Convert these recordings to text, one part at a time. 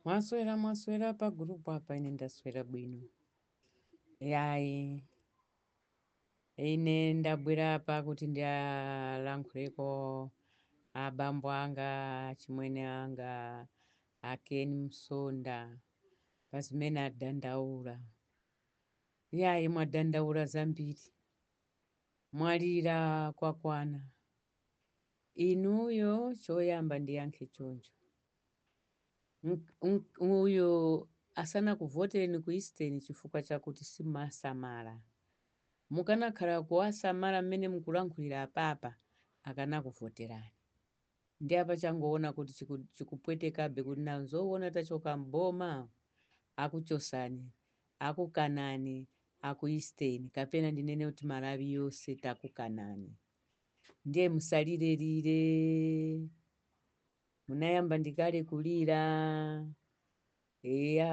mwaswera mwaswera pa gurupu apa ine ndaswera bwino yayi ine ndabwera apa kuti ndiwalankhuleko abambo anga chimwene anga a ken msonda pa zimene adandaula yayi mwadandaula zambiri mwalira kwakwana Inuyo choyamba ndiyankhe choncho. Ng, ng, ng'uyo asanakuvotereni ku Eastern chifukwa chakuti simumawasamala. Mukanakhala kuwasamala mmene mukulankhulira apapa akanakuvoterani. Ndiye apa changoona kuti chiku, chikupwetekabe kuti nawo zoona tachoka m'boma? Akuchosani, akukanani aku Eastern kapena ndinene kuti Malawi yonse takukanani. Ndiye musalire lire. Munayamba ndi kale kulira. Eya.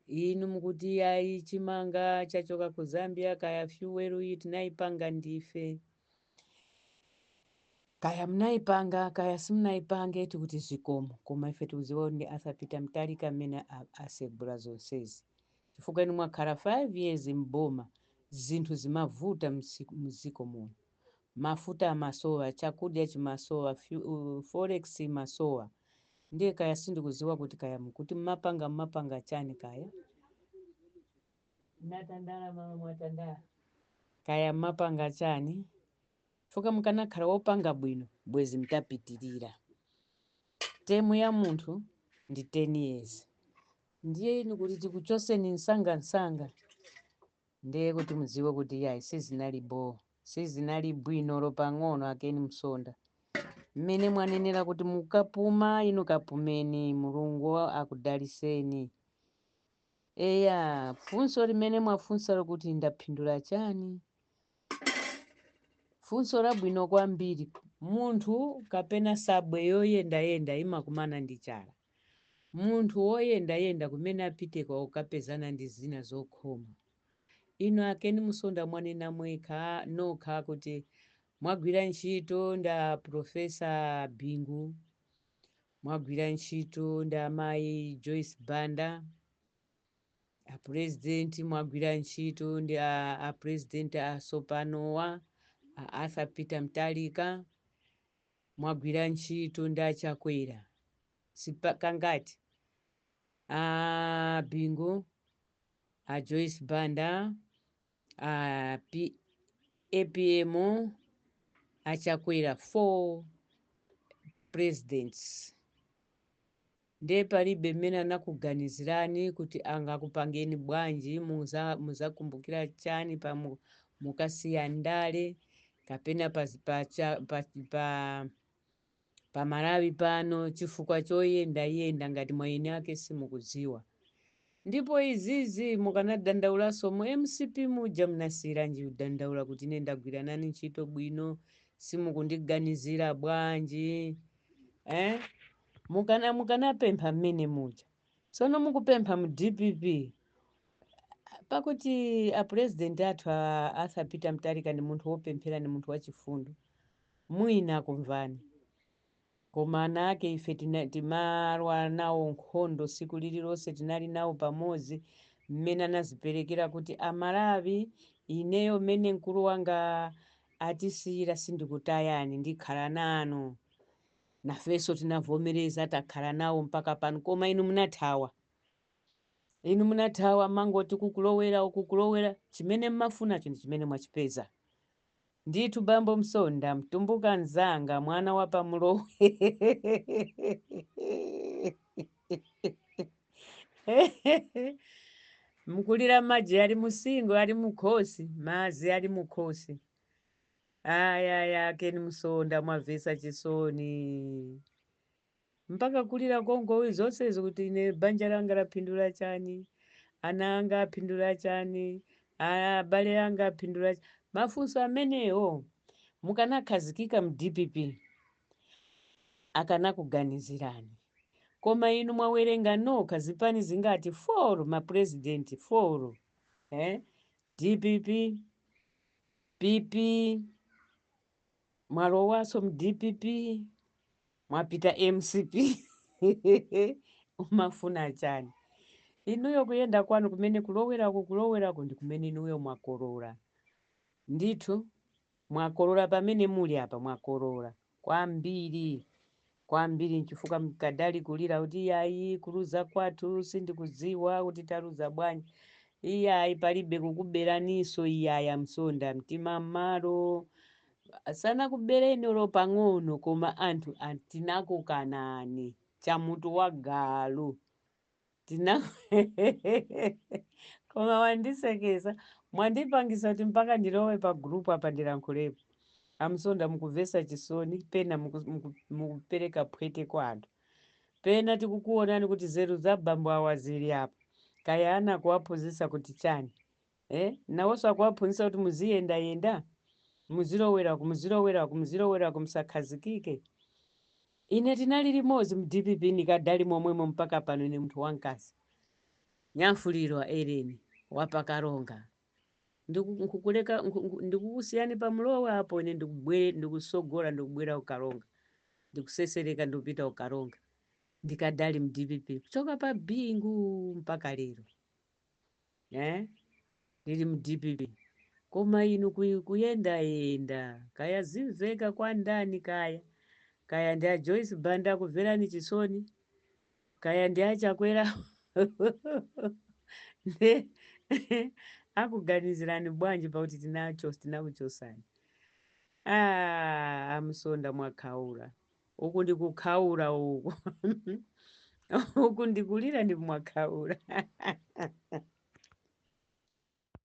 Inu mukuti ayi chimanga chachoka ku Zambia kaya fuel iyi tinayipanga ndife. Kaya munayipanga kaya simunayipanga tikuti zikomo koma ife tikudziwa ndi Arthur Peter Mutharika amene asegula zonsezi. chifukwa inu mwakhala 5 years m'boma zinthu zimavuta mziko muno mafuta amasowa chakudya chimasowa forex imasowa ndiye kaya sindikuziwa kuti kaya mukuti mumapanga mumapanga chani kaya natandala mama mwatandala kaya mumapanga chani chifukwa mukanakhala wopanga bwino bwezi mtapitirira temu ya munthu ndi 10 years ndiye inu kuti tikuchoseni msanga msanga ndiye kuti mudziwe kuti yayi sizinali bo sizinali bwino olo pang'ono a ken msonda mmene mwanenera kuti mukapuma inu kapumeni mulungu akudaliseni eya funso limene mwafunsa lokuti ndaphindula chani funso labwino kwambiri munthu kapena nsabwe yoyendayenda imakumana ndi chala Munthu woyendayenda kumene apite ko akapezana ndi zina zokhoma. Inu a Ken Msonda mwanena mwekha, nokha kuti mwagwira ntchito ndi a Professor Bingu, mwagwira ntchito ndi amayi Joyce Banda, a President mwagwira ntchito ndi a, a President asopanowa, a Arthur Peter Mutharika. mwagwira ntchito ndi achakwera zipani zingati a bingu a joyce banda a apm achakwera four presidents Nde palibe mmene anakuganizirani kut angakupangeni bwanji muzakumbukira chani pa mukasiya ndale kapena pa pa pa pa Malawi pano chifukwa choyenda yenda ngati mwaini ake simukudziwa ndipo izizi mukanadandaulaso mu mcp muja mnasiyiranji kudandaula kut ine ndagwira nanu ntchito bwino simukundiganizira bwanji eeh. Mukanapempha mmene muja. Tsono mukupempha mu dpp pakuti a president athu a Arthur Peter Mutharika ndi munthu wopemphera ndi munthu wachifundo. Mwina akumvani. Koma ana ake ife timalwa nawo nkhondo siku lililonse tinali nawo pamodzi mmene anaziperekera kuti a Malawi ineyo mmene mkulu wanga atisiyira sindikutayani ndikhala nanu. Nafenso tinavomereza takhala nawo mpaka pano koma inu munathawa. Inu munathawa mmangoti kukulowera kukulowera chimene mmafunacho ndi chimene mwachipeza. Ndithu bambo Msonda mtumbuka nzanga mwana wa pa Mlowe Mkulira maji ali musingo ali mukhosi madzi ali mukhosi Ayaya Ken Msonda mwavesa chisoni mpaka kulira kungoti zonsezi kuti ine banja langa lapindula chani ana anga apindula chani abale anga apindula chani? mafunso amenewo mukanakhazikika mu dpp akanakuganizirani koma inu mwawerenga nokha zipani zingati foro mapurezidenti foro eh? dpp PP mwalowaso mu dpp mwapita mcp umafuna chani inuyo kuyenda kwanu kumene kulowerako kulowerako ndi kumene inuyo mwakolola ndithu mwakolola pamene muli apa mwakolola kwambiri kwambiri nchifukwa mkadali kulira kuti iyayi kuluza kwathu sindikudziwa kuti taluza bwanji iyayi palibe kukuberaniso iyayi a Msonda mtima mmalo sanakubereni olo pang'ono koma anthu tinakukanani chamutu wa galu Tina koma wandisekesa mwandipangisa kuti mpaka ndilowe pa group apa ndilankhulepo amsonda mukuvesa chisoni pena muku- muku- mukupereka phwete kwa anthu pena tikukuonani kuti zeru za bambo awa zili apa kaya ana kuwaphunzisa kuti chani Eh? Nawonso akuwaphunzitsa kuti muziyendayenda? Muziloweraku, muziloweraku, muziloweraku, musakhazikike? Ine tinali limodzi mu DPP ndikadali momwemo mpaka pano ine munthu wamkazi. Nyamfulirwa Ellene wa pa Karonga. Ndiku, nkukuleka, nku, nku, ndikukusiyani pa Mlowe apo ine ndikubwere, ndikutsogola ndikubwera ku Karonga. Ndikusesereka ndikupita ku Karonga. Ndikadali mu DPP. Kuchoka pa Bingu mpaka lero. eh? ndili mu DPP koma inu kuyendayenda kaya zimvekera kwa ndani kaya kaya ndi a Joyce Banda akumverani chisoni kaya ndi achakwera nde akuganizirani bwanji pakuti tinakuchosani ah, a Msonda mwakhaula Uku ndi kukhaula uku. Uku ndi kulira ndi mwakhaula.